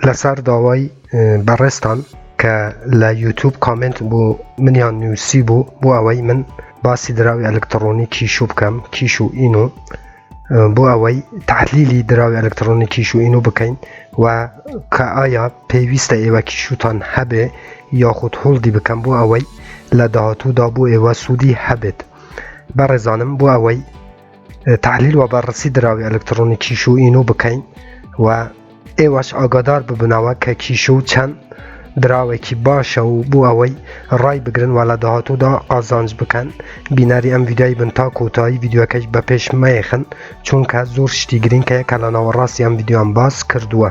لەسەر داوای بەڕێزتان کە لە یوتوب کامنت بۆ منیان نووسی بوو بۆ ئەوەی من باسی دراوی ئەلکتڕۆنی کیشو بکەم کیش و ئین و بۆ ئەوەی تحلیلی دراوی ئەلکترۆنی کیش و ئینو بکەین و کە ئایا پێویستە ئێوە کیشوتان هەبێ یاخود هەڵدی بکەم بۆ ئەوەی لە داهاتوودا بۆ ئێوە سوودی هەبێت بەڕێزانم بۆ ئەوەی تحلیل و بەڕسی دراوی ئەلکترۆنی کیش و ئینو بکەین و ئێوەش ئاگادار ببنەوە کە کیش و چەند دراوێکی باشە و بۆ ئەوەی ڕای بگرن و لە داهاتوودا ئازانج بکەن بینەری ئەم ویدای بن تا کۆتایی یددیوەکەش بە پێش مەیەخن چونکە زۆر شتی گرنگ کە کە لە ناوەڕاستی ئەم یددیوان باس کردووە.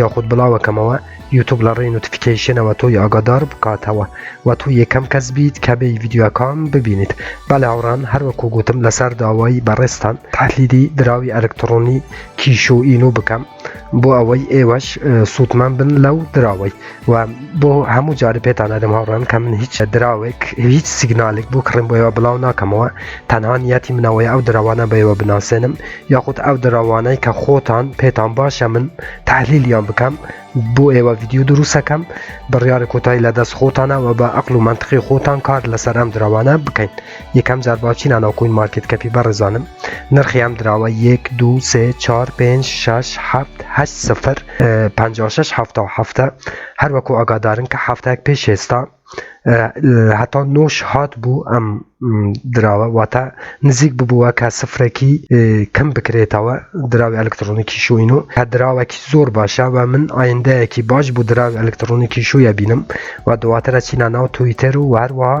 یاخود بڵاوەکەمەوە یوتوب لە ڕێی نوتفیکەیشنەوە تۆی ئاگادار بکاتەوە و تۆ یەکەم کەس بیت کە بێی ڤیددیوەکان ببینیت بەلێ هاوڕان هەروەکو گوتم لەسەر داوای بەڕێزتان تحلیلی دراوی ئەلکتڕۆنی کیشو ئینو بکەم بۆ ئەوەی ئێوەش سوودمەند بن لەو دراوەی و بۆ هەموو جارە پێتان ئەدەم هاوڕان کە من هیچ دراوێک هیچ سیگنالێک بۆ کڕم بۆەوە بڵاو ناکەمەوە تەنان یەتی منەوەی ئەو دراوانە بەەوە بناسێنم یاخود ئەو دراوانەی کە خۆتان پێتان باشە من تحلیلیان بکەم بۆ ئێوە یددیو دروستەکەم بڕیارە کۆتایی لە دەست خۆتانەوە بە ئەقل و منتقی خۆتان کار لەسەر ئەم دراوانە بکەین یەکەم جار باچی نانەوە کوین مارکت کەپی بەڕێزانم نرخیام دراوە یەک دو سێ چار پێ شش هەفت هە سفر پ شش هەفتا هەفتە هەروەکو ئاگادارن کە هەفتەک پێش ئێستا هەتا نۆش هات بوو ئەم دراوە واتە نزیک ببووە کە سفرەکی کەم بکرێتەوە دراوی ئەلکترۆنیکی شوین و هە دراوەکی زۆر باشە و من ئایندەیەکی باش بوو دراوی ئەلکترۆنیکی شوویە بینم و دواترە چینە ناو تویتەر و هەروەها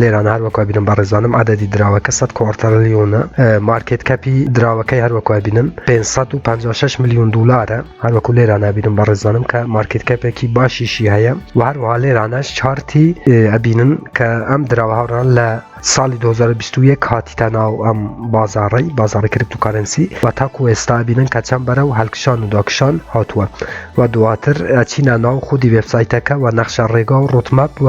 لێران هەروەکو بینم بە ڕێزانم عادەدی دراوەکە 100 کۆڕتەلیۆنە مارکێت کەپی دراوەکەی هەروەکو بینم 556 میلیون دلارە هەروەکو لێران نبینم بە ڕێزانم کە مارکێت کەپێکی باشیشی هەیە و هەروها لێرانەش چارتی ئەبینن کە ئەم دراوە هاوڕان لە ساڵی 2021 کاتیتە ناو ئەم بازاڕی بازاڕی کرپتوکارنسی و تاکو ئێستا بینن کە چەند بەرە و هەلکشان و داکشان هاتووە و دواتر چینە ناو خودی وبسایتەکە و نەخشە ڕێگا و ڕوتمەپ و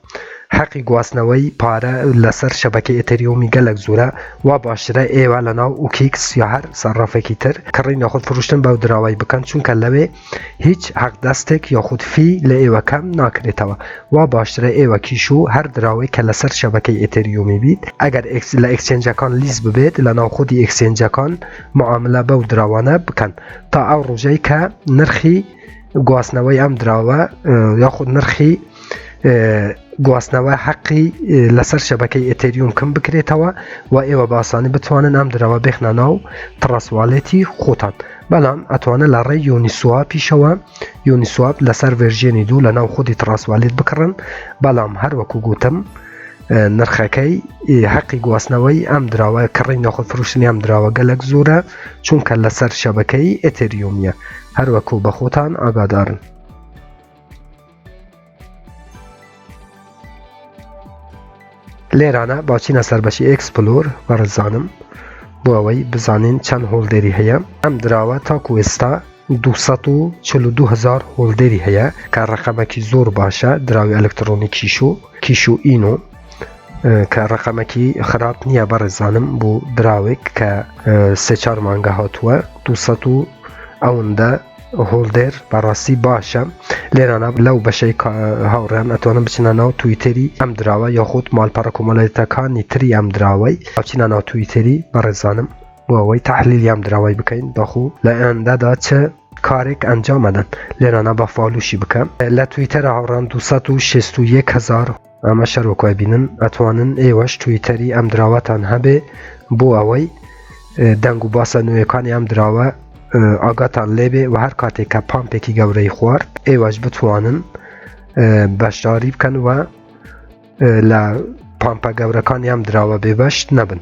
حەقی گواستنەوەی پارە لەسەر شەبەکەی ئێتێریومی گەلەک زورە وا باشترە ئێوە لەناو ئوکیکس یا هەر سەرافێکی تر کڕین یاخود فروشتن بەو دراوەی بکەن چونکە لەوێ هیچ حەق دەستێک یاخود فی لە ئێوە کەم ناکرێتەوە وا باشترە ئێوە کیش و هەر دراوەیک کە لەسەر شەبەکەی ئێتێریومی بیت ئەگەر لە ئێکسچێنجەکان لیست ببێت لەناو خودی ئێکسچێنجەکان معاملە بەو دراوانە بکەن تا ئەو ڕوژەی کە نرخی گواستنەوەی ئەم دراوە یاخود نرخی گواستنەوە حەقی لەسەر شەبەکەی ئەتەریوم کەم بکرێتەوە و ئێوە باسانی بتوانن ئەم درەوە بخنە ناو تڕسوالێتی خۆتان بەڵام ئەتوانە لە ڕێ یۆنیسوا پیشەوە یۆنیسواب لەسەر ڤێژێنی دوو لە ناو خودی تڕسوالێت بکڕن بەڵام هەروەکو گوتم نرخەکەی حەقی گواستنەوەی ئەم دراوە کڕی نەخۆ فروشتنی ئەم دراوە گەلک زۆرە چونکە لەسەر شەبەکەی ئەتریۆمیە هەروەکو بە خۆتان ئاگادارن لێرانە باچینە سەربەشی ئەکسپلۆر بەڕزانم بۆ ئەوەی بزانین چەند هۆڵدێری هەیە ئەم دراوە تاکو ئێستا دوو سەد و چل و دوو هەزار هۆڵدەری هەیە کە ڕقەمەکی زۆر باشە دراوی ئەلکترۆنی کیش و کیش و ئین و کە ڕقەمەکی خراپ نییە بەڕێزانم بۆ دراوێک کە سێ چار مانگە هاتووە دو و ئەوەندە هۆڵدێر بەڕاستی باشە لێرانە لەو بەشەی هاوڕێن ئەتوانم بچنە ناو تویتری ئەم دراوە یاخود مالپەڕە کۆمەڵێتەکانی تری ئەم دراوەی ئەچینە ناو تویتری بەڕێزانم بۆ ئەوەی تحلیلیان دراوای بکەین بەخو لە ئەندادا چ کارێک ئەنجام ئەدەن لێرانە بە فاالوشی بکە لە تویتەرە هاوڕان 261000 ئەمە شەرۆکای بینن ئەتوانن ئێوەش تویتەری ئەم دراوەتان هەبێ بۆ ئەوەی دەنگ و باسە نوێەکانی ئەم دراوە ئاگاتان لێبێ و هەر کاتێک کە پامپێکی گەورەی خوارد ئێوەش بتوانن بەشداری بکەن و لە پامپە گەورەکانی ئەم دراوە بێبەشت نەبن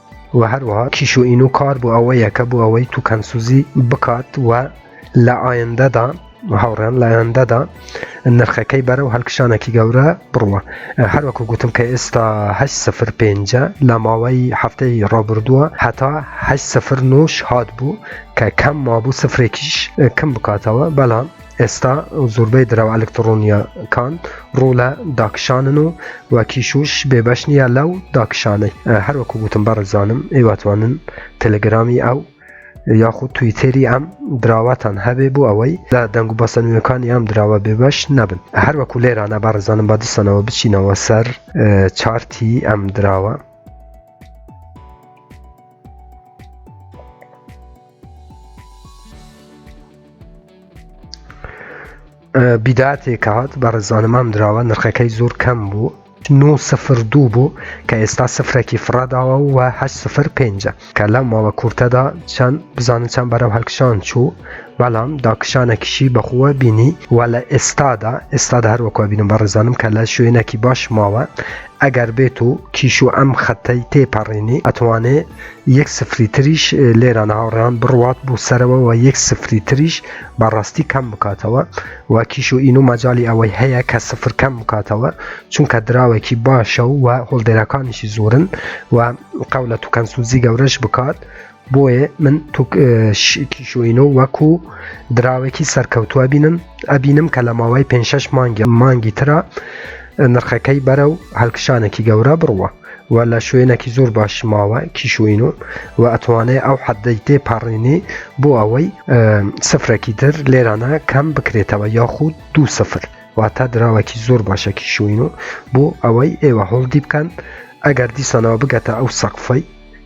و هەروەها کیشوئین و کار بۆ ئەوەیە کە بۆ ئەوەی توکەنسوزی بکات و لە ئایندەدا هاوڕێن لە ئەندەدا نرخەکەی بەرە و هەلکشانێکی گەورە بڕوە هەروەکو گوتم کە ئێستا سفر پێنج لە ماوەی هەفتەی ڕابردووە هەتا سفر نوش هات بوو کە کەم مابوو سفرێکیش کەم بکاتەوە بەڵام ئێستا زۆربەی دراوە ئەلکتڕۆنییە کان ڕوو لە داکشانن و وە کیشوش بێبەش نییە لەو داکشانەی هەروەکو گوتم بەڕێزانم ئێواتوانن تەلەگرامی ئەو یاخود تویتێری ئەم دراواتان هەبێ بۆ ئەوەی لە دەنگ و بەسەنوێکانی ئەم دراوە بێبەش نەبن هەروەکو لێرانە بەڕزانم بە دسەنەوە بچینەوە سەر چارتی ئەم دراوە بیداتێک هاات بە ڕێزانمام دراوە نرخەکەی زۆر کەم بوو 9 سفر دوو بوو کە ئێستا سفرەکی فڕاداوە و هە سفر پێنجە کە لەم ماوە کورتەدا چەند بزانن چەند بەرەو هەلکشان چوو بەڵام داکشانەکیشی بەخووە بینی و لە ئێستادا ئێستادا هەروەکو بینم بە ڕێزانم کە لە شوێنێکی باش ماوە ئەگەر بێت و کیش و ئەم خەتەی تێپەڕێنی ئەتوانێ یەک سفری تریش لێران هاوڕێیان بڕوات بوو سەرەوە و یەک سفری تریش بەڕاستی کەم بکاتەوە و کیش و ئین و مەجای ئەوەی هەیە کە سفر کەم بکاتەوە چونکە دراوێکی باشە و و هۆڵدێرەکانیشی زۆرن و قەولە تو کەنسوزی گەورەش بکات بۆیە من کیشوینۆ وەکو دراوێکی سەرکەوتووە بینم ئەبینم کە لە ماوەی پێ مانگی مانگی ترە نرخەکەی بەرە و هەلکشانێکی گەورە بڕوە وە لە شوێنەکی زۆر باشی ماوە کیش و ئینۆ وە ئەتوانێ ئەو حەدەی تێ پەڕێنی بۆ ئەوەی سفرەکی تر لێرانە کەم بکرێتەوە یاخود دوو سفر واتە دراوەکی زۆر باشە کیش و ئینۆ بۆ ئەوەی ئێوە هۆڵدی بکەن ئەگەر دیسانەوە بگەتە ئەو سەقفەی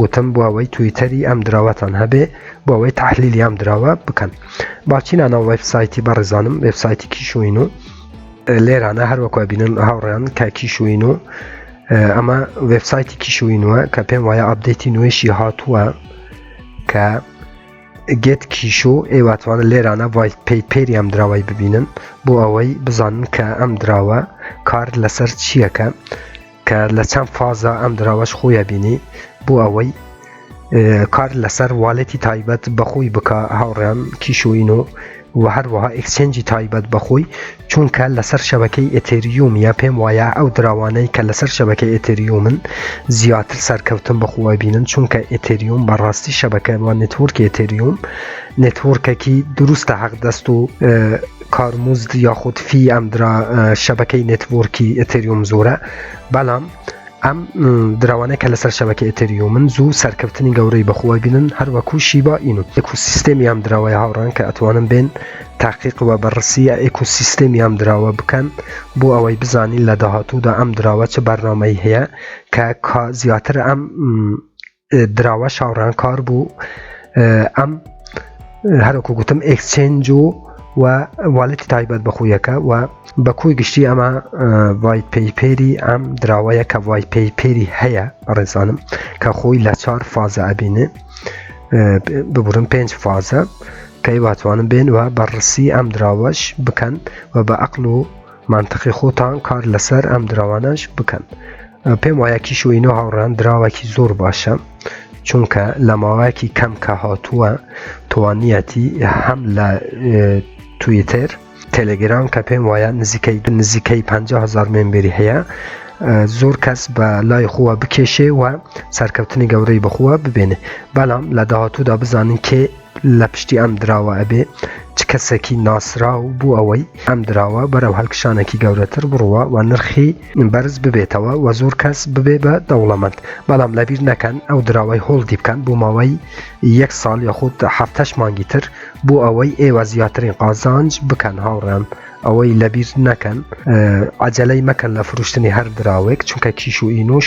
گوتم بۆوەی تویتەری ئەم دراوەتان هەبێ بۆوەی تحلیلی ئەم دراوە بکەن باچینانە وەب سایتی بەڕێزانم وێب سایتی کیشوین و لێرانە هەروەکو بینن هاوڕیان کە کیشوین و ئەمە وێب سایتی کیشوینوە کە پێم وایە ئابدەیتی نوێشی هاتووە کە گێت کیشۆ ئێواتوانە لێرانە وای پێی پێری ئەم دراوای ببینن بۆ ئەوەی بزانن کە ئەم دراوە کار لەسەر چییەکە کە لە چەند فازا ئەم دراوەش خۆیە بینی بۆ ئەوەی کار لەسەر والێتی تایبەت بەخۆی بکە هاوڕێم کیشۆین و و هەروەها ئەکسچێنجی تایبەت بەخۆی چونکە لەسەر شەبەکەی ئەتریومیە پێم وایە ئەو دراوانەی کە لەسەر شەبەکەی ئەتریومن زیاتر سەرکەوتن بەخوە بینن چونکە ئەتریوم بەڕاستی شەبەکە وە نتورکی ئەتریوم نتورکەکی دروستە حەق دەست و کارمزد یاخود فی ئەم درا شەبەکەی نێتوۆرکی ئەتریوم زۆرە بەڵام ئەم دراوانە کە لەسەر شەبەکە ئەتریو من زوو سەرکەوتنی گەورەی بەخوای بینن هەروەکو شیبا ئینو ئەکوسیستێمی ئەم دراوای هاوڕان کە ئەتوانم بێن تاقیق وە بەڕسیە ئەکوسیستێمی ئەم دراوە بکەن بۆ ئەوەی بزانین لە داهاتوودا ئەم دراوە چ بەرنمەی هەیە کە کا زیاتر ئەم دراوە شاڕانکار بوو ئەم هەرکو گوتم ئەکسچنج و و والێتی تایبەت بەخویەکە و بە کۆی گشتی ئەمە وای پەیپێری ئەم دراوەیە کە وای پەیپێری هەیە ڕێزانم کە خۆی لە چوار فازە ئەبینێ ببورم پێنج فازە کەی واتوانم بێن و بەڕسی ئەم دراوەش بکەن و بە ئەقل و منطقی خۆتان کار لەسەر ئەم دراوانەش بکەن پێم وایە کیشوینۆ هاوڕان دراوەکی زۆر باشە چونکە لە ماوەیەکی کەم کە هاتووە توانیەتی هەم لە تویتر تەلگرام کە پێم وایە نزیکەی دو نزیکەی 500هزار مێمبری هەیە زۆر کەس بە لای خۆوە بکێشێ و سەرکەوتنی گەورەی بخووە ببێنێ بەڵام لە داهاتوودا بزانین کێ لە پشتی ئەم دراوە ئەبێ چ کەسێکی ناسراو بوو ئەوەی ئەم دراوە بەرەو هەلکشانێکی گەورەتر بڕوە و نرخی بەرز ببێتەوە و زۆر کەس ببێ بە دەوڵەمەند بەڵام لەبیر نەکەن ئەو دراوەی هۆڵدی بکەن بۆ ماوەی یەک ساڵ یاخود هەفتەش مانگی تر بۆ ئەوەی ئێوە زیاترین قازانج بکەن هاوڕێن ئەوەی لەبیر نەکەن عجلەی مەکەن لە فرشتنی هەر دراوێک چونکە کیش و ئینوش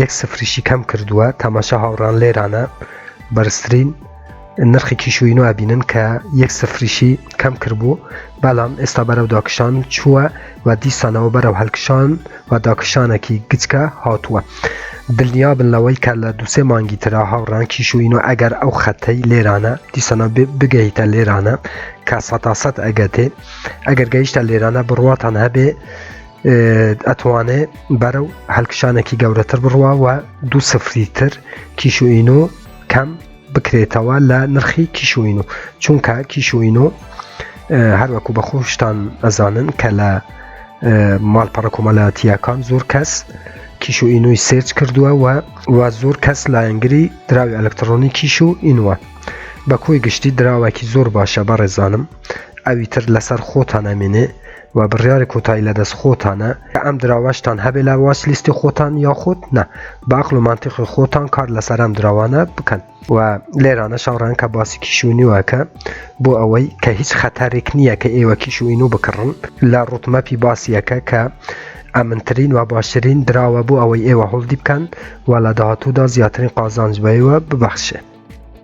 یەک سفریشی کەم کردووە تەماشا هاوڕان لێرانە بەرزترین نرخی کیشوی نو ئەبینن کە یەک سفریشی کەم کردبوو بەڵام ئێستا بەرەو داکشان چووە و دیسانەوە بەرەو هەلکشان و داکشانێکی گچکە هاتووە دڵنیا بن لەوەی کە لە دوسێ مانگی تررا هاوڕان کیشوین و ئەگەر ئەو خەتەی لێرانە دیسانە بگەیتە لێرانە کە سەتاسەد ئەگەتێ ئەگەر گەیشتە لێرانە بڕواتان هەبێ ئەتوانێ بەرە و هەلکشانێکی گەورەتر بڕوا و دو سفری تر کیشوئین و کەم بکرێتەوە لە نرخی کیشوئین و چونکە کیشوئین و هەروەکو بە خۆشتان ئەزانن کە لە ماڵپەڕە کۆمەلاتیەکان زۆر کەس کیش و ئینوی سێرچ کردووە و و زۆر کەس لایەنگری دراوی ئەلکترۆنی کیش و ئینوە بە کۆی گشتی دراوەکی زۆر باشە بە ڕێزانم ئەوی تر لەسەر خۆتان ئەمێنێ وە بڕیارە کۆتایی لە دەست خۆتانە کە ئەم دراوەشتان هەبێ لە واچ لیستی خۆتان یاخود نا بە عەقڵ و مەنتیقی خۆتان کار لەسەر ئەم دراوانە بکەن و لێرانە شاڕێن کە باسی کیشوینیوەکە بۆ ئەوەی کە هیچ خەتەرێک نییە کە ئێوە کیشوین و بکڕن لە ڕوتمەپی باسیەکە کە ئەمنترین و باشترین دراوە بۆ ئەوەی ئێوە هەڵدی بکەن و لە داهاتوودا زیاترین قازانج بەیوە ببەخشێ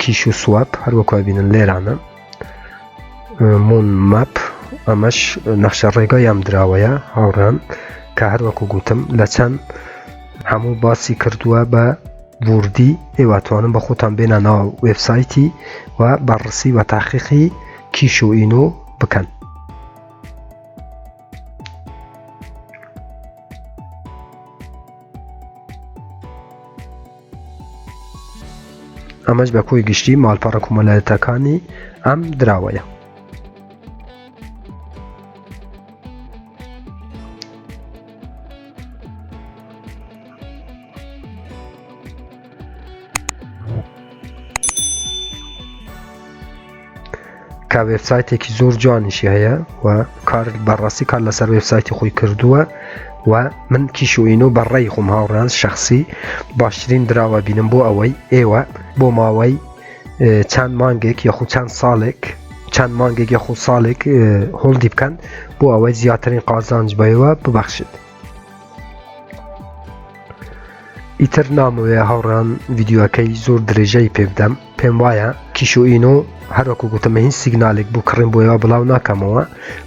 کیش و سواب هەر وەکو بینن لێرانە مون ماپ ئەمەش نەخشە ڕێگا یام دراوەیە هاوڕان کە هەر وەکو گوتم لە چەند هەموو باسی کردووە بە وردی ئێواتوانم بە خۆتان بێنانەوە وێبسایتی و بەڕسی و تاقیقی کیش و ئین و بکەن ئەمەش بە کۆی گشتی ماڵپەڕە کومەلایەتەکانی ئەم دراوەیە کە وێبسایتێکی زۆر جوانیشی هەیە و کار بەڕاستی کار لەسەر وێبسایتی خۆی کردووە و من کیشوئین و بەڕێی خۆم هاوڕان شخصی باشترین دراوە بینم بۆ ئەوەی ئێوە بۆ ماوەی چەند مانگێک یخو چەند ساڵێک چەند مانگێک یخو ساڵێک هۆڵدی بکەن بۆ ئەوەی زیاترین قازانج بەەوە ببەخشێت ئیتر نامەوێ هاوڕان ڤیددیوەکەی زۆر درێژەی پێبدەم پێم وایە کیشۆئین و هەروەکو گوتمە هیچ سیگنالێک بوو کڕین بۆیەوە بڵاو ناکەمەوە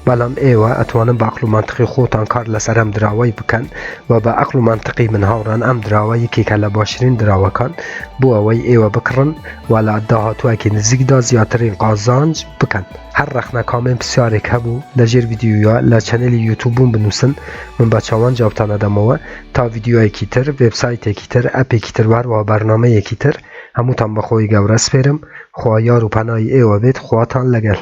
بەڵام ئێوە ئەتوانن باقل و منتقی خۆتان کار لەسەر ئەم دراوای بکەن و بە ئەقل و منتقی من هاوڕان ئەم دراوە یەکێکە لە باشترین دراوەکان بۆ ئەوەی ئێوە بکڕن و لە داهاتوواکی نزیکدا زیاترین قازانج بکەن. هەر ڕەخنە کامێن پسیارێک هەبوو لە ژێر ڤیدیویا لە چەنەلی یوتوب بووم بنووسن من بە چاوان جوابتانە دەمەوە تا ڤیدیویەکی تر وێبسایتێکی تر ئەپێکی تر وهەروەها بەرنامەیەکی تر هەمووتان بەخۆی گەورە سپێرم خوا یار و پەنای ئێوە بێت خواتان لەگەل